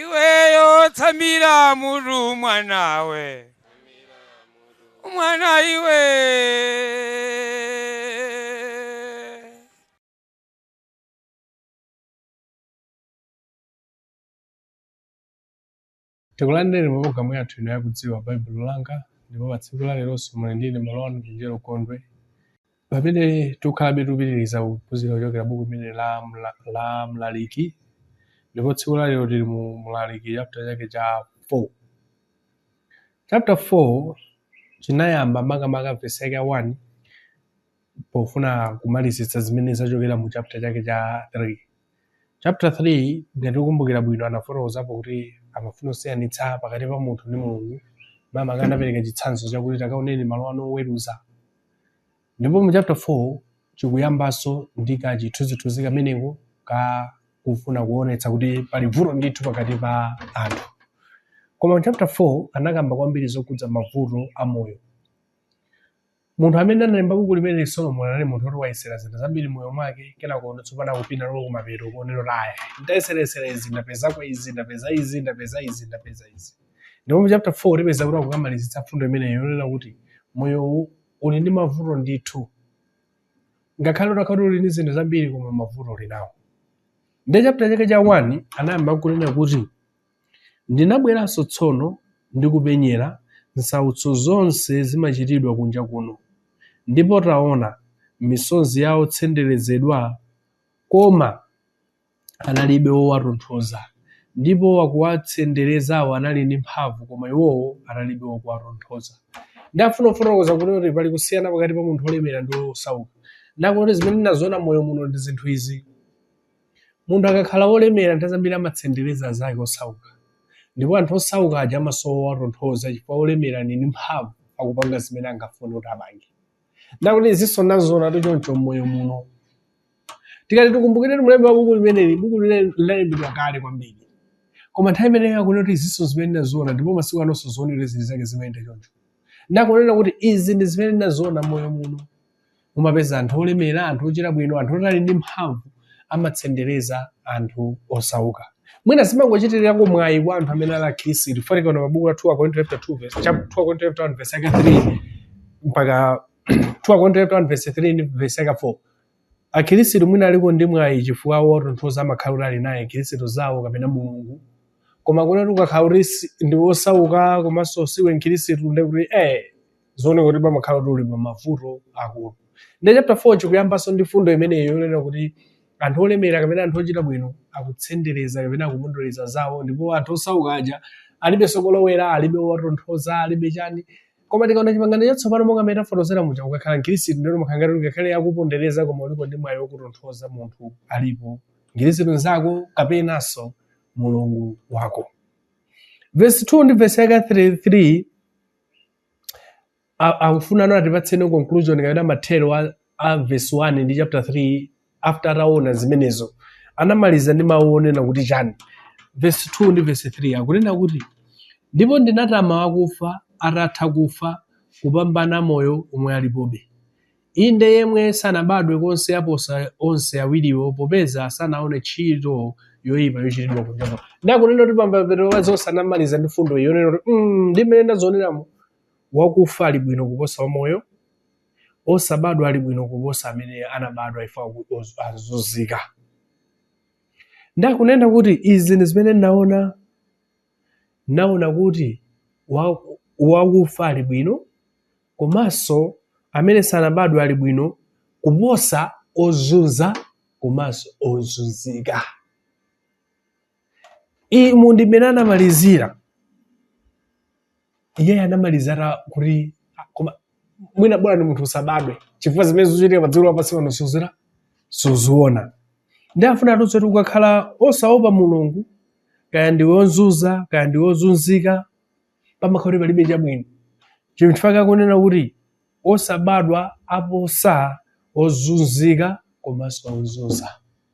iweyo tsamira mulu mwanawe mwana iwe Tikulandireni mu programu yathu ino yakudziwa Baibulo langa ndipo pa tsiku la leronso muli ndine m'bale wanu Chenjero Gondwe pamene tikhalabe tikupitiriza kuphunzira kuchokera buku limene la Mlaliki ndipo tsiku la lero tili mu Mlaliki chapter chake cha 4 chapter 4 chinayamba makamaka vesi yake ya 1 pofuna kumalizitsa zimene zachokera mu chapter chake cha 3 chapter 3 ngati tikumbukira bwino anafotokozapo kuti amafuna kusiyanitsa pakati pa munthu ndi mulungu makamaka anapereka chitsanzo chakuti takaoneni malo ano oweruza ndipo mu chapter 4 chikuyambanso ndi kachithunzithunzi kameneko ka kufuna kuonetsa kuti pali vuto ndithu pakati pa anthu koma mu chapter 4 anakamba kwambiri zokhudza mavuto a moyo Munthu amene analemba buku limeneli Solomon anali munthu woti wayesera zinthu zambiri moyo mwake kenako no tsopano akupita nalo kumapeto kunena kuti iya ndayeserayesera izi ndapezako izi ndapeza izi ndapeza izi ndapeza izi ndipo mu chapter 4 tipeza kuti akukamalizitsa mfundo imeneyo yonena kuti moyo uli ndi mavuto ndithu ngakhale utakhala kuti uli ndi zinthu zambiri koma mavuto uli nawo ndi chapter chake cha 1 anayamba kunena kuti Ndinabweranso tsono ndi kupenyera nsautso zonse zimachitidwa kunja kuno, ndipo taona, misozi ya otsenderezedwa, koma analibe wowatonthoza, ndipo wakuwatsenderezawo anali ndi mphamvu, koma iwowo analibe wakuwatonthoza. Nde afuna kufotokoza kuti pali kusiyana pakati pa munthu wolemera ndi wosauka. Nde akuti zimene ndinaziona m'moyo muno ndi zinthu izi. Munthu akakhala wolemera, nthawi zambiri amatsendereza anzake osauka. Ndipo anthu osauka aja amasowa owatonthoza chifukwa wolemera ali ndi mphamvu, akupanga zimene angafune kuti apange. Nde akuti izinso ndaziona choncho m'moyo muno. Tikati tikumbukire kuti mlembi wa buku limeneli, buku limene linalembedwa kale kwambiri. Koma nthawi imeneyo akunena kuti izinso zimene ndaziona ndipo masiku anonso zoonekera zili zake zimayenda choncho. Nde akunena kuti izi ndi zimene ndaziona m'moyo muno. Mumapeza anthu olemera, anthu ochita bwino, anthu oti ali ndi mphamvu amatsendereza anthu osauka. Mwina zimangochitirako mwayi kwa anthu amene ali akhristu. Chifukwa tikaona pa buku la 2 Akorinto chapter 2 verse chap- 2 Akorinto chapter 1 verse yake 3 mpaka 2 Akorinto chapter 1 verse 3 ndi verse yake 4. Akhristu mwina aliko ndi mwayi chifukwa wotonthoza amakhala kuti ali naye akhristu zawo kapena Mulungu. Koma ngati ukakhala kuti si- ndi wosauka komanso siwe mkhristu ndi kuti eh zooneka kuti pamakhala kuti uli pa mavuto akulu nde chapter 4 chikuyambanso ndi fundo imeneyo yonena kuti anthu olemera kapena anthu ochita bwino akutsendereza kapena akupondereza anzawo ndipo anthu osauka aja alibe kolowera alibe owatonthoza alibe chani koma tikaona chipangano chatsopano monga amene tafotokozera muja ukakhala mkhirisitu ndiye umakhala ngati ungakhale akupondereza koma uliko ndi mwayi wokutonthoza munthu alipo mkhirisitu nzako kapenanso mulungu wako vesi 2 ndi vesi yake 3 A- akufuna ano atipatseni conclusion kapena mathero a, a verse 1 ndi chapter 3 after ataona zimenezo anamaliza ndi mawu onena kuti chani verse 2 ndi verse 3 akunena kuti ndipo ndinatama akufa atatha kufa kupambana amoyo omwe alipobe Inde, yemwe sanabadwe konse aposa onse awiriwo, popeza sanaone tchito yoipa yochitidwa kunja kuno. Nde akunena kuti pamapeto pa zonse anamaliza ndi fundo iyi yonena kuti mm, ndi mmene ndazioneramu wakufa ali bwino kuposa wamoyo, osabadwa ali bwino kuposa amene anabadwa ife ozunzika. Nde akunena kuti izi ndi zimene ndaona, ndaona kuti wakufa ali bwino komanso amene sanabadwe ali bwino kuposa ozunza komanso ozunzika. Umu ndi mmene anamalizira iyeyo anamaliza ati kuti ah, koma mwina bola ni munthu usabadwe chifukwa zimene zikuchitika pa dziko lapansi pano suzidziwa suziona ndi afuna atiuze kuti ukakhala osaopa mulungu kaya ndiwe ozunza kaya ndiwe ozunzika pamakhala kuti palibe chabwino chifukwa chake akunena kuti osabadwa aposa ozunzika komanso ozunza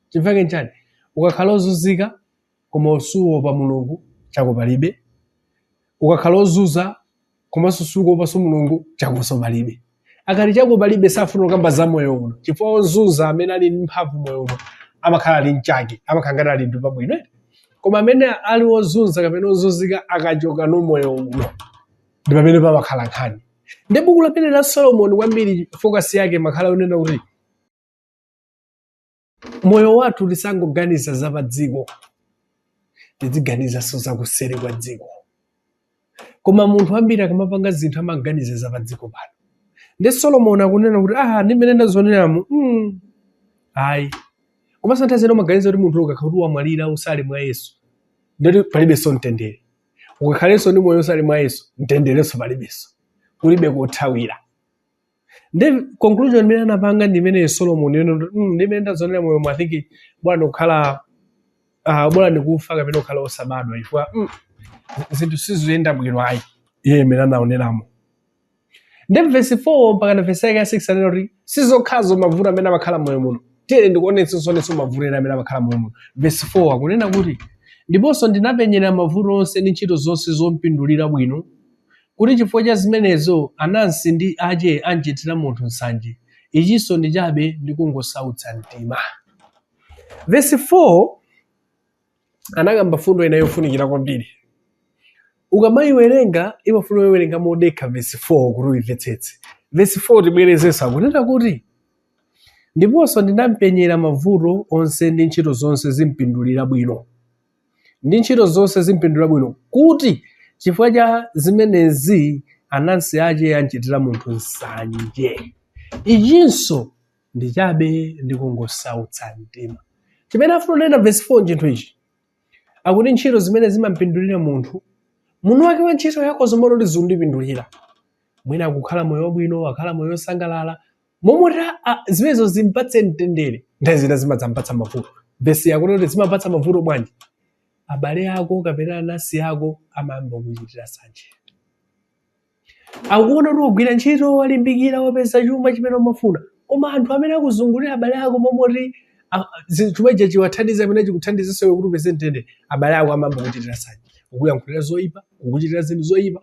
chifukwa chake nchani ukakhala ozunzika koma usuopa mulungu chako palibe ukakhala ozunza komanso sukuopanso mulungu chakonso palibe akati chako palibe safuna kukamba za moyo uno chifukwa ozunza amene ali ndi mphamvu moyo uno amakhala ali mchake amakhala ngati ali ndi pabwino eti. koma amene ali ozunza kapena ozunzika akachoka no moyo uno ndi pamene pamakhala nkhani ndi buku limeneli la solomoni kwambiri fokasi yake imakhala yonena kuti moyo wathu tisangoganiza za pa dziko tiziganizanso za kuseri kwa dziko koma anthu ambiri akamapanga zinthu amaganiza za pa dziko pano ndi solomoni akunena kuti aha ndi mmene ndazioneramu mm. ayi komanso nthawi zina umaganiza kuti munthu ukakhala kuti wamwalira usali mwa yesu ndiye kuti palibenso mtendere ukakhalenso ndi moyo usali mwa yesu mtenderenso palibenso kulibe kothawira nde conclusion imene anapanga ndi imene solomon yonena kuti "Mm, ndi imene ndazonera moyo mwa think bola kukhala ah, bola ndi kufa kapena kukhala osabadwa chifukwa mm, zinthu sizikuyenda bwino ayi iye imene anaoneramo ndi vesi 4 mpaka na vesi yake ya 6 anena kuti sizokhazo mavuto amene amakhala moyo muno tiyeni ndikuonetsa sonetso mavuto ena amene amakhala moyo muno vesi 4 akunena kuti ndiponso ndinapenyera mavuto onse ndi ntchito zonse zompindulira bwino kuti chifukwa cha zimenezo anansi ndi ache anchitira munthu nsanje, ichinso ndi chabe ndi kungosautsa mtima. Vesi 4 anakamba mfundo ina yofunikira kwambiri. Ukamaiwerenga imafuna uiwerenga modekha vesi 4 kuti uimvetsetse. Vesi 4 tibwerezenso akunena kuti ndiponso ndinampenyera mavuto onse ndi ntchito zonse zompindulira bwino. ndi ntchito zonse zimpindulira bwino, kuti chifukwa cha zimenezi anansi ache anchitira munthu nsanje. Ichinso ndi chabe ndi kungosautsa mtima. Chimene afuna kunena vesi 4 nchinthu ichi akuti ntchito zimene zimampindulira munthu munthu wake wa ntchito yakeyo mmaloti zimupindulire mwina akukhala moyo wabwino akhala moyo wosangalala mmaloti ah, zimenezo zimpatse mtendere nthawi zina zimadzampatsa mavuto vesi yakuti kuti zimampatsa mavuto bwanji abale ako kapena anansi ako amayamba kukuchitira nsanje akuona kuti wagwira ntchito walimbikira wapeza chuma chimene umafuna koma anthu amene akuzungulira abale ako mmaloti ah, zi- chuma ichi chiwathandize mmene chikuthandizinso iwe kuti upeze mtendere abale ako amayamba kukuchitira nsanje kukuyankhulira zoyipa kukuchitira zinthu zoyipa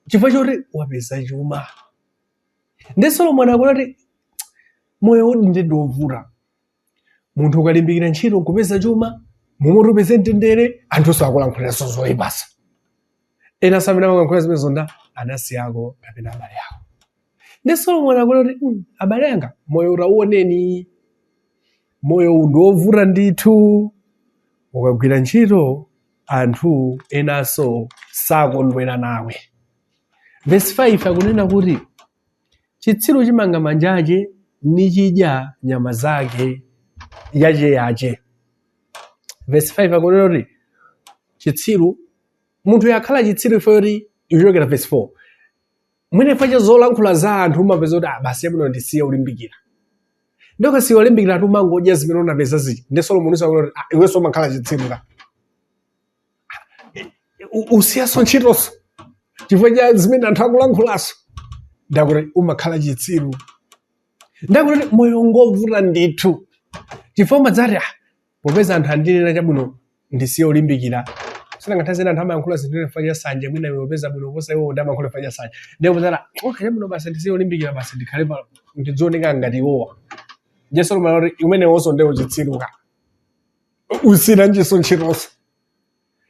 chifukwa choti wapeza chuma nde solomon akuona kuti moyo uwu ndi ndiwovuta munthu ukalimbikira ntchito nkupeza chuma mmaloti upeze mtendere anthunso akulankhuliranso zoyipanso enanso amene amakulankhulira zimenezo ndi anansi ako kapena abale ako nde solomon akuona kuti "Mm, abale anga moyo tauoneni moyo uwu ndi wovuta ndithu ukagwira ntchito anthu enanso sakondwera nawe Vesi 5 akunena kuti chitsiru chimanga manja ache nichidya nyama yake yache yache. Vesi 5 akunena kuti chitsiru munthu wakhala chitsiru chifukwa choti ikuchokera vesi 4 mwina chifukwa cha zolankhula za anthu umapeza kuti ah basi ndi bwino ndisiye kulimbikira nde ukasiya kulimbikira ati umangodya zimene unapeza zija nde solomoni akuti iwenso umakhala chitsiru ka U- usiyaso ntchitoso chifukwa cha zimene anthu akulankhulaso ndakuti umakhala chitsiru ndakuti moyo ngovuta ndithu chifukwa umadzati ah, popeza anthu andinena chabwino ndisiye olimbikira si nthawi zina anthu amayankhula zinthu chifukwa cha sanje mwina iwe upeza bwino kuposa iwo ndiye amayankhula chifukwa cha sanje ndiye umadzati okay chabwino basi ndisiye olimbikira basi ndikhale pa ndizioneka ngati iwowa nde solomoni akuti umenewonso nde uchitsiru ka usinanjiso ntchitoso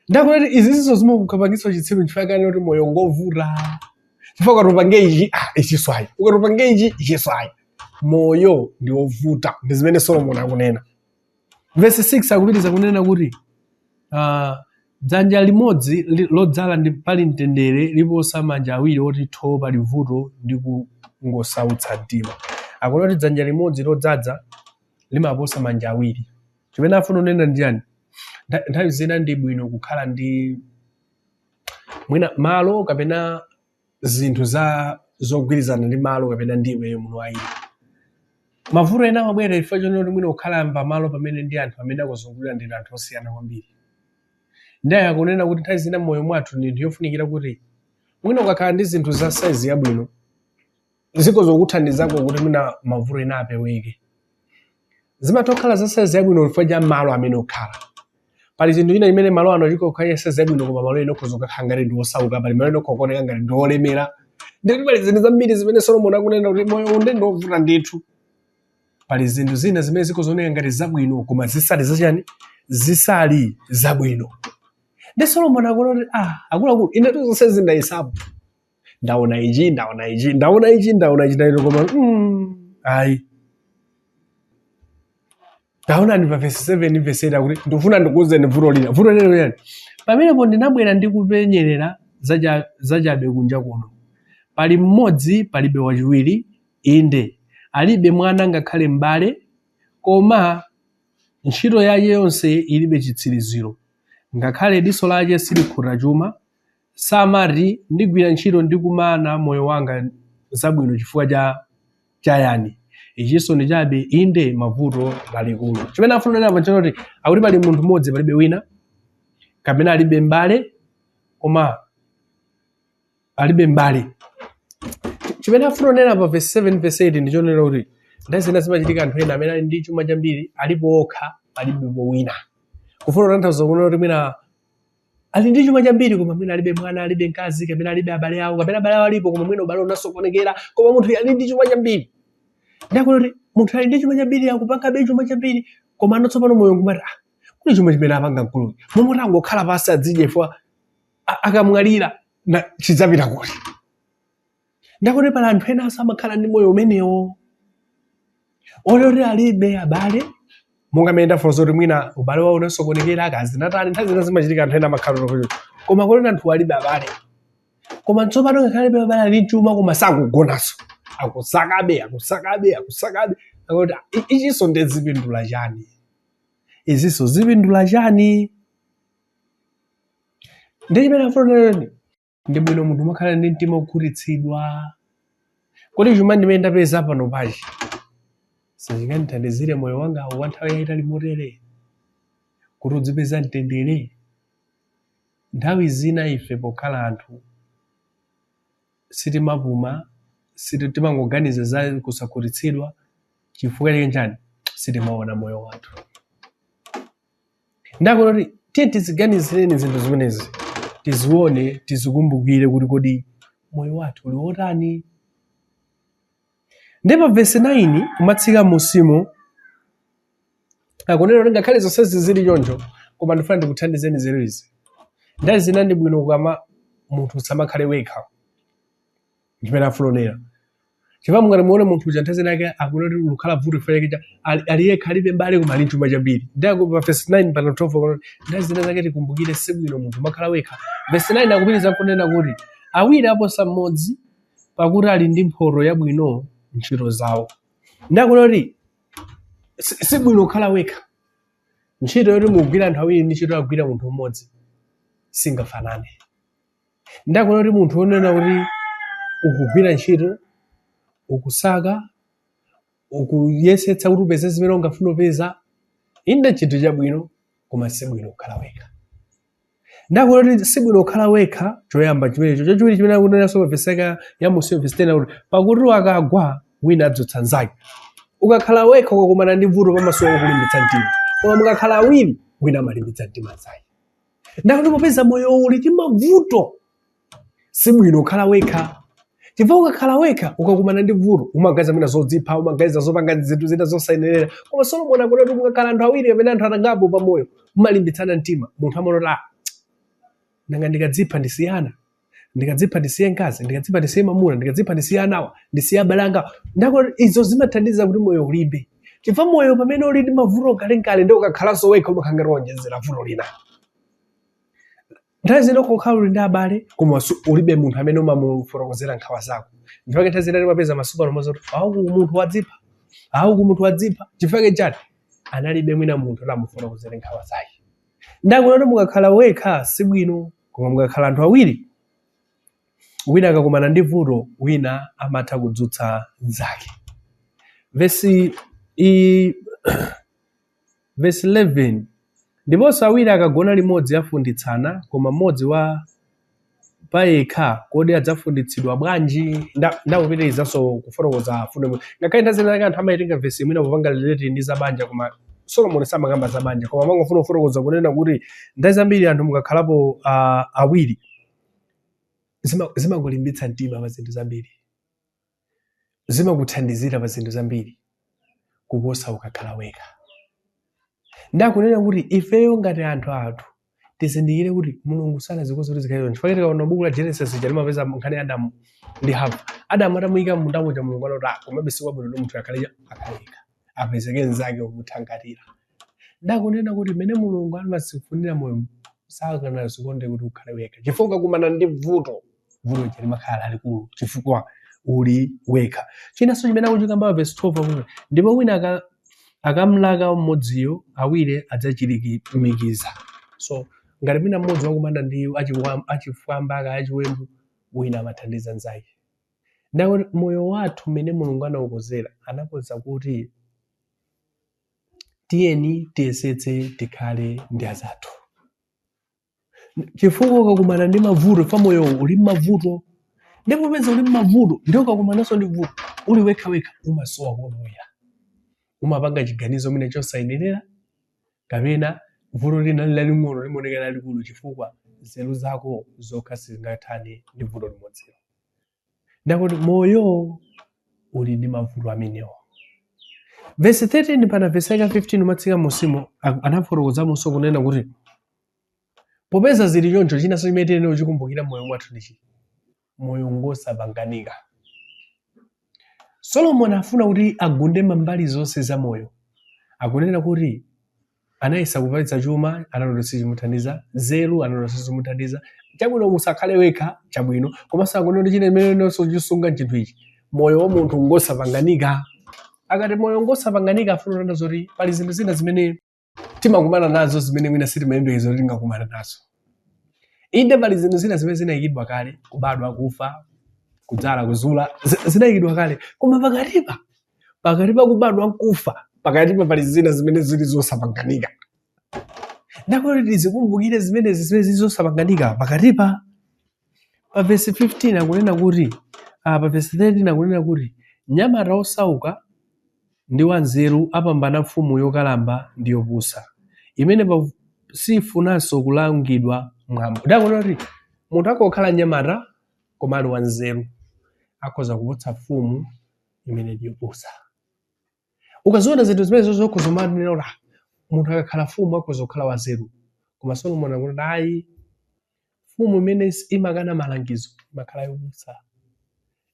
ndakuti izizizo zimakupangitsa uchitsiru chifukwa chani kuti moyo ngovuta chifukwa ukati upange ichi ah, ichiso ayi ukati upange ichi ichiso ayi moyo ndi wovuta ndi zimene solomoni akunena vesi 6 akupitiriza kunena kuti ah, dzanja limodzi li- lodzala ndi pali mtendere liposa manja awiri oti tho pali vuto ndi kungosautsa mtima akunena kuti dzanja limodzi lodzadza limaposa manja awiri chimene afuna kunena ndi chani Ntha- nthawi zina ndi bwino kukhala ndi mwina malo kapena zinthu za zogwirizana ndi malo kapena ndi iweyo munthu ayi mavuto ena amabwera chifukwa chonena kuti mwina kukhala pa malo pamene ndi anthu amene akuzungulira ndi anthu osiyana kwambiri ndiye akunena kuti nthawi zina mmoyo mwathu ndithu yofunikira kuti mwina ukakhala ndi zinthu za saizi yabwino zikhoza kukuthandizako kuti mwina mavuto ena apeweke zimatha kukhala za saizi yabwino chifukwa cha malo amene ukhala pali chinthu china chimene malo ano chikhoza kukhala ya saizi yabwino koma malo ena ukhoza kukhala ngati ndi osauka pali malo ena ukhoza kuoneka ngati ndi olemera ndikuti pali zinthu zambiri zimene solomoni akunena kuti moyo uno ndi ovuta ndithu pali zinthu zina zimene zikhoza kuoneka ngati zabwino koma zisali zachani zisali zabwino nde solomoni akunena kuti ah akuluakulu inetu zonse ndinayesapo ndaona ichi ndaona ichi ndaona ichi ndaona ichi ndaona koma mm, ayi ndaona nde pa vesi 7 vesi 8 akuti ndikufuna ndikuuzeni vuto lina vuto lina ndi chani pamenepo ndinabwera ndi kupenyerera zacha- zachabe kunja kuno pali mmodzi palibe wachiwiri inde alibe mwana ngakhale m'bale koma ntchito yake yonse ilibe chitsiriziro ngakhale diso lake silikhuta chuma samati ndigwira ntchito ndi kumana moyo wanga zabwino chifukwa cha chayani ichinso ndi chabe inde ma vuto lalikulu chimene afuna kunena apa nchoti akuti pali munthu mmodzi palibe wina kapena alibe mbale koma alibe mbale chimene afuna kunena pa verse 7 verse 8 ndichonena kuti nthawi zina zimachitika anthu ena amene ali ndi chuma chambiri alipo okha alibe wina kufuna kutanthauza kunena kuti mwina ali ndi chuma chambiri koma mwina alibe mwana alibe mkazi kapena alibe abale awo kapena abale awo alipo koma mwina ubale unasokonekera koma munthu ali ndi chuma chambiri nde akunena kuti munthu ali ndi chuma chambiri akupangabe chuma chambiri koma pano tsopano moyo nkumati ah, kodi chuma chimene apanga mkuluyu momwe kuti angokhala pansi adzidye chifukwa akamwalira na- chidzapita kuti ndakuti pali anthu enanso amakhala ndi moyo umenewo oloti alibe abale monga mmene ndafotokoza kuti mwina ubale wawo unasokonekera akazi anatani nthawi zina zimachitika anthu ena amakhala kuti koma kuti anthu alibe abale koma tsopano ngakhale alibe abale ali ndi chuma koma sakugonanso akusakabe akusakabe akusakabe akuti "I- ichinso nde zipindula chani izinso zipindula chani ndi chimene afotokoza ndi bwino munthu kumakhala ndi mtima wokhutitsidwa kodi chuma chimene ndapeza panopachi sichingandithandizire moyo wanga wa nthawi yayitali motere kuti udzipeza mtendere nthawi zina ife pokhala anthu sitimapuma siti- timangoganiza za kusakhutitsidwa chifukwa chake chani sitimaona moyo wathu nde akunena kuti tiyeni tiziganizireni zinthu zimenezi tizione tizikumbukire kuti kodi moyo wathu uli wotani ndi pa vesi 9 kumatsika mmusimo akunena kuti ngakhale zonsezi zili choncho koma ndifuna ndikuthandizeni nzeru izi nthawi zina ndi bwino kukhala munthu usamakhale wekha chimene afuna kunena chifukwa mungati muone munthu uja nthawi zina zake akuona kuti likukhala vuto chifukwa chake cha- ali ali yekha alibe mbale koma ali ndi chuma chambiri ndako pa verse 9 pa 12 akunena kuti nthawi zina zake tikumbukire si bwino munthu kumakhala wekha verse 9 akupitiriza kunena kuti awiri aposa mmodzi pakuti ali ndi mphotho yabwino m'ntchito zawo nde akunena kuti si si bwino kukhala wekha ntchito yoti mugwira anthu awiri ndi ntchito yogwira munthu mmodzi singafanane nde akunena kuti munthu wonena kuti ukugwira ntchito ukusaka ukuyesetsa kuti upeze zimene ungafuna upeza inde chinthu chabwino koma sibwino kukhala wekha nde akunena kuti sibwino kukhala wekha choyamba chimenecho chachiwiri chimene akunenanso pa vesi ya mmusi vesi 10 akuti pakuti akagwa wina adzutsa nzake ukakhala wekha ukakumana ndi vuto pamasowa wokulimbitsa mtima koma mukakhala awiri wina amalimbitsa mtima nzake ndakuti popeza moyo uli ndi mavuto si bwino kukhala wekha chifukwa ukakhala wekha ukakumana ndi vuto umaganiza mwina zodzipha umaganiza zopanga zinthu zina zosayenerera koma solomoni akunena kuti mukakhala anthu awiri kapena anthu angapo pamoyo mumalimbitsana mtima munthu amaona kuti ah nanga ndikadzipha ndisiyana ndikadzipha ndisiye mkazi ndikadzipha ndisiye mamuna ndikadzipha ndisiye anawa ndisiye abale anga ndakuti izo zimathandiza kuti moyo ulimbe chifukwa moyo pamene uli ndi mavuto kalenkale ndi ukakhalanso wekha umakhala ngati wonjezera vuto lina nthawi zina ukakhala uli ndi abale koma su- ulibe munthu amene umamufotokozera nkhawa zako ndipake nthawi zina timapeza masiku ano amazati auku munthu wadzipha auku munthu wadzipha chifukwa chani analibe mwina munthu kuti amufotokozere nkhawa zake Ndakunena kuti mukakhala wekha si bwino, koma mukakhala anthu awiri, wina akakumana ndi vuto, wina amatha kudzutsa mnzake. Vesi i vesi 11 ndiponso awiri akagona limodzi afunditsana, koma mmodzi wa payekha, kodi adzafunditsidwa bwanji? Nda- Ndakupitirizanso kufotokoza mfundo imwe. Ngakhale nthawi zina zake anthu amaitenga vesi imeneyi popanga relate ndi za banja, koma Solomoni samakamba za banja, koma amangofuna kufotokoza kunena kuti nthawi zambiri anthu mukakhalapo ah, awiri zima- zimakulimbitsa mtima pa zinthu zambiri. zimakuthandizira pa zinthu zambiri kuposa ukakhala wekha ndakunena kuti ifeyo ngati anthu athu tizindikire kuti mulungu sanazikonza kuti zikhale choncho chifukwa tikaona buku la genesis ija timapeza nkhani ya adamu ndi hava adamu atamuyika m'munda muja mulungu anati "Ah, komabe si kwabwino kuti munthu akhale akhale yekha apezeke mnzake womuthangatira ndakunena kuti mmene mulungu anazifunira moyo sanazikonze kuti ukhale wekha chifukwa ukakumana ndi vuto vuto lija limakhala lalikulu chifukwa uli wekha chinanso chimene akuchikamba pa vesi 12 akuti ndipo wina aka- akamlaka mmodziyo awiri adzachirimika so ngati mwina mmodzi wakumana ndi achiwa- achifwamba kaya achiwembu wina amathandiza nzake ndakuti moyo wathu mmene mulungu anaukonzera anakonza kuti tiyeni tiyesetse tikhale ndi anzathu chifukwa ukakumana ndi mavuto chifukwa moyo uli mmavuto nde popeza uli mmavuto nde ukakumananso ndi vuto uli wekha wekha umasowa kolowera umapanga chiganizo mwina chosayenera kapena vuto lina laling'ono limaoneka lalikulu chifukwa nzeru zako zokha sizingathane ndi vuto limodzilo ndakuti moyo uli ndi mavuto amenewo vesi 13 mpaka vesi yake 15 ukamatsika m'musimo anafotokozamonso kunena kuti popeza zili choncho chinanso chimene tiyenera kuchikumbukira moyo mwathu ndichi moyo ngosapanganika solomoni afuna kuti agunde mambali zonse za moyo akunena kuti anayesa kupeza chuma anaona kuti sichimuthandiza nzeru anaona kuti sizimuthandiza chabwino usakhale wekha chabwino komanso akunena kuti china imene inenso chisunga chinthu ichi moyo wa munthu ngosapanganika akati moyo ngosapanganika afuna kunena zoti pali zinthu zina zimene timakumana nazo zimene mwina sitimayembekeza kuti tingakumana nazo inde pali zinthu zina zimene zinayikidwa kale kubadwa kufa kudzala kuzula zi- zinayikidwa kale koma pakatipa pakati pa kubadwa nkufa pakatipa pali zina zimene zili zosapanganika ndakuti tizikumbukire zimenezi zimene zili zosapanganika pakatipa pa vesi 15 akunena kuti ah, pa vesi 13 akunena kuti nyamata osauka ndi wanzeru apambana mfumu yokalamba ndi yopusa imene pa- sifunanso kulangidwa mwambo ndakunena kuti munthu akhoza kukhala nyamata koma ali wanzeru akhoza kuposa mfumu imene ndi yopusa ukaziona zinthu zimenezo ukhoza kumanena kuti "Ah, munthu akakhala mfumu akhoza kukhala wanzeru koma solomoni akuti ayi mfumu imene is- imakana malangizo imakhala yopusa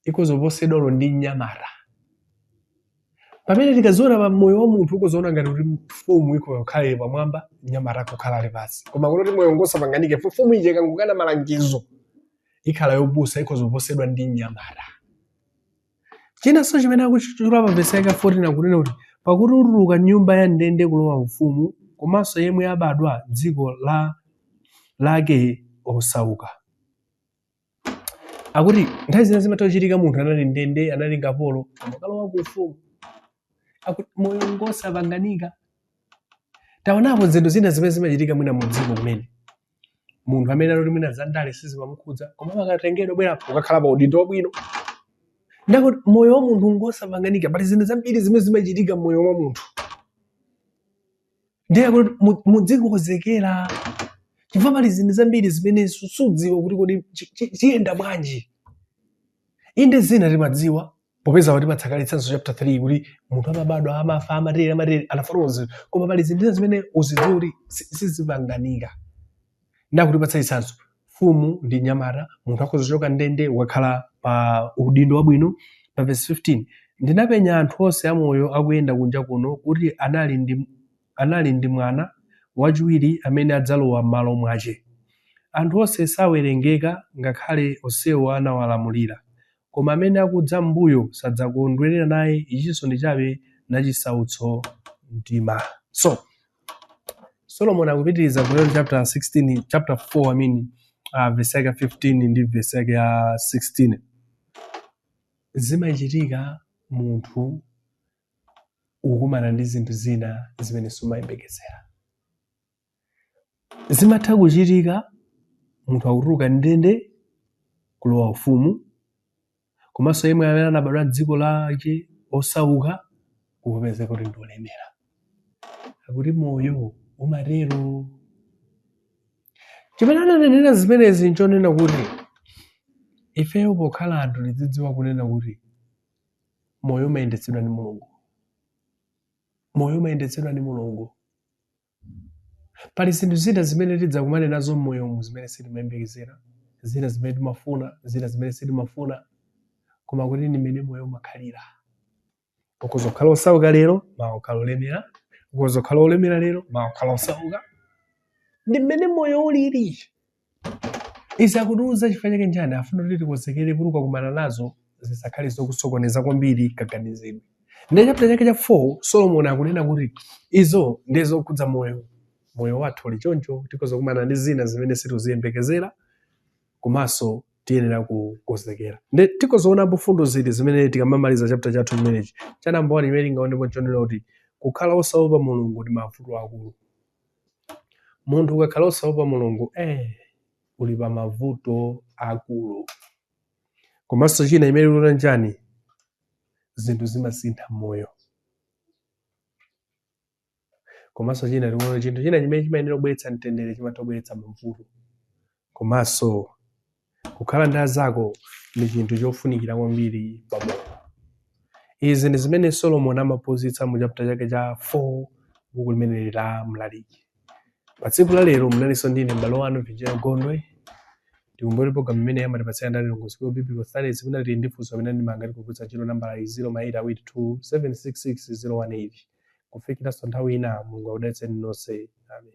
ikhoza kuposedwa olo ndi mnyamata pamene tikaziona pa moyo wa munthu ukhoza kuziona ngati kuti mfumu ikhoza kukhala ili pamwamba mnyamata akukhala ali pansi koma kuti moyo ngosapanganika mfumu ije ikangokana malangizo ikhala yopusa ikhoza kuposedwa ndi mnyamata Chinanso chimene akuchitchula pa vesi yake ya 14 akunena kuti, Pakuti utuluka m'nyumba ya ndende kulowa ufumu, komanso yemwe abadwa m'dziko lake osauka. Akuti nthawi zina zimatha kuchitika munthu anali ndende, anali kapolo, kumakalowa ku ufumu. Akuti moyo ngosapanganika. Taonapo zinthu zina zimene zimachitika mwina mu dziko kumene. munthu amene ali woti mwina za ndale sizimamukhudza koma amakatengedwa bwera apo ukakhala pa udindo wabwino ndakuti moyo wa munthu ngosapanganika pali zinthu zambiri zimene zimachitika mmoyo wa munthu ndiye kuti mu- mudzikonzekera chifukwa pali zinthu zambiri zimene su- sudziwa kuti kodi chi- chi- chiyenda bwanji inde zina timadziwa popeza watipatsa kale chitsanzo chapter 3 kuti munthu amabadwa amafa amatere amatere anafotokoza koma pali zinthu zimene uzidziwa kuti si- sizipanganika ndakutipatsa chitsanzo mfumu ndi nyamata munthu akhoza kuchoka ndende wakhala pa udindo wabwino pa verse 15 ndinapenya anthu onse amoyo akuyenda kunja kuno kuti anali ndi, anali ndi mwana wachiwiri amene adzalowa m'malo mwace anthu onse sawerengeka ngakhale onsewo anawalamulira Koma amene akudza m'mbuyo sadzakondwerera naye, ichinso ndi chabe na chisautso mtima. So, Solomon akupitiriza kutero chapter 16 chapter 4 I mean uh, verse yake 15 ndi verse yake ya 16 zimachitika munthu ukumana ndi zinthu zina zimene sumayembekezera Zimatha kuchitika munthu akutuluka m'ndende kulowa Ufumu, komanso yemwe amene anabadwa m'dziko lake osauka kupezeka kuti ndi olemera. Akuti moyo umatero. Chimene ananenera zimenezi nchonena kuti ifeyo pokhala anthu tidzidziwa kunena kuti moyo umayendetsedwa ndi Mulungu. Moyo umayendetsedwa ndi Mulungu. Pali zinthu zina zimene tidzakumane nazo m'moyomu zimene sitimayembekezera, zina zimene timafuna, zina zimene sitimafuna. Koma kuti ndi mmene moyo umakhalira. Ukhoza kukhala wosauka lero, mawa kukhala wolemera. Ukhoza kukhala wolemera lero, mawa kukhala wosauka. Ndi mmene moyo ulili. Izi akutiuza chifukwa chake njani afuna kuti tikonzekere kuti ukakumana nazo zisakhale zokusokoneza kwambiri kaganizidwe. Ndiye chapter chake cha 4 Solomon akunena kuti izo ndiye zokhudza moyo moyo wathu uli choncho tikhoza kukumana ndi zina zimene sitiziyembekezera komanso tiyenera kukonzekera. Ndiye tikhoza kuonapo mfundo ziti zimene tikamamaliza chapter chathu chimenechi cha namba 1 imene tingaonepo chonena kuti kukhala osaopa Mulungu ndi mavuto akulu. Munthu ukakhala osaopa mulungu eh, uli pa mavuto akulu. Komanso china chimene tuona njani zinthu zimasintha moyo. Komanso china tikuona chinthu china chimene chimayenera kubweretsa mtendere chimatha kubweretsa mavuto komanso Kukhala ndi azako ndi chinthu chofunikira kwambiri pa moyo. Izi ndi zimene Solomon amaphunzitsa mu chapter chake cha 4 buku limeneli la Mlaliki. Pa tsiku la lero munalinso ndi ine m'bale wanu Virgil Gondwe. Tikumbukire program imeneyi amatipatsira ndi a Lilongwe School of Biblical Studies amene tili ndi funso kapena ndemanga tikugwiritsa ntchito nambala 0 ma 8 awiri 2 766 018. Kufikiranso nthawi ina Mulungu akudalitseni nonse. Amen.